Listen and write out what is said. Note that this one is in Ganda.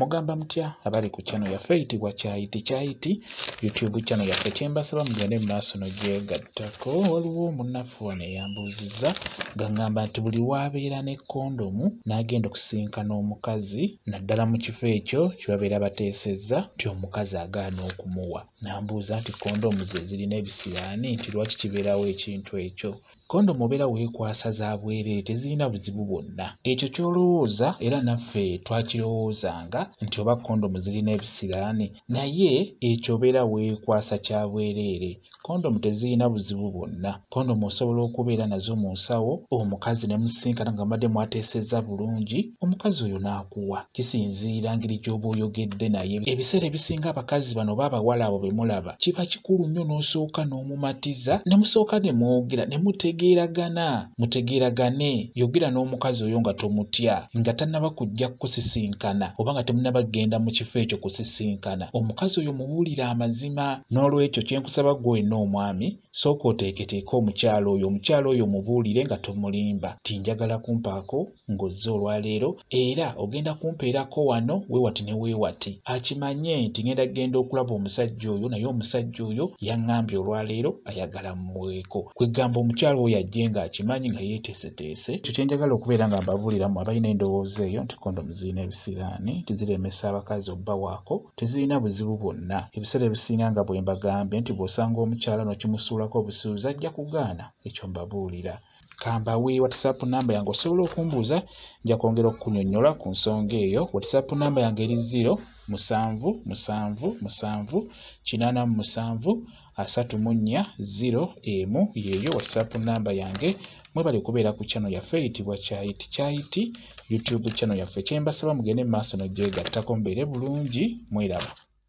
mugamba mutya abali ku channel yaffe eyitibwa kyayiti kyayiti youtube channel yaffe kyembasaba mugende mu maaso nogyegattako waliwo omunafu wano eyambuuzizza gangamba nti buli wabeera ne kondomu n'agenda okusinkana omukazi naddala mu kifo ekyo kyebabeera bateesezza nti omukazi agaana okumuwa nambuuza nti kondomu ze zirina ebisiraani nti lwaki kibeerawo ekintu ekyo Kondomu obeera weekwasa za bwereere tezirina buzibu bwonna. Ekyo ky'olowooza era naffe twakirowoozanga nti oba kondomu zirina ebisiraani naye ekyo obeera weekwasa kya bwereere. Kondomu tezirina buzibu bwonna. Kondomu osobola okubeera nazo mu nsawo omukazi ne musisinkana nga mubadde mwateesezza bulungi. omukazi oyo n'akuwa kisinziira ngeri gy'oba oyogedde naye ebiseera ebisinga abakazi bano oba abawala abo be mulaba kiba kikulu nnyo n'osooka n'omumatiza ne musooka ne mwogera ne mutegeeragana mutegeeragane yogera n'omukazi oyo nga tomutya nga tannaba kujja kukusisinkana oba nga temunaba kugenda mu kifo ekyo kusisinkana omukazi oyo mubuulire amazima n'olwekyo kye nkusaba gwe olina omwami sooka oteeketeeke omukyala oyo omukyala oyo mubuulire nga tomulimba ti njagala kumpaako ng'ozze olwaleero era ogenda kumpeerako wano weewati ne weewati akimanye nti ngenda kugenda okulaba omusajja oyo naye omusajja oyo yaŋŋambye olwaleero ayagala mmuweeko kwegamba omukyala oyo ajje ng'akimanyi nga yeeteeseteese ekyo kye njagala okubeera nga mbabuulira mu abalina endowooza eyo nti kondomu zirina ebisiraani nti ziremesa abakazi obbawaako tezirina buzibu bwonna ebiseera ebisinga nga bwe mbagambye nti bw'osanga omukyala n'okimusuulako obusuuzi ajja kugaana ekyo mbabuulira kambawe whatsapp namba yange osobola okumbuuza nja kwongera okukunyonyola ku nsonga eyo whatsapp namba yange eri 0 musanvu musanvu musanvu kinana mu musanvu asatu mu nnya 0 emu yeeyo whatsapp namba yange mwebale kubeera ku chano yaffe eyitibwa kyayiti kyayiti youtube chano yaffe kyembasaba mugende mu maaso nogyegattako mubeere bulungi mweraba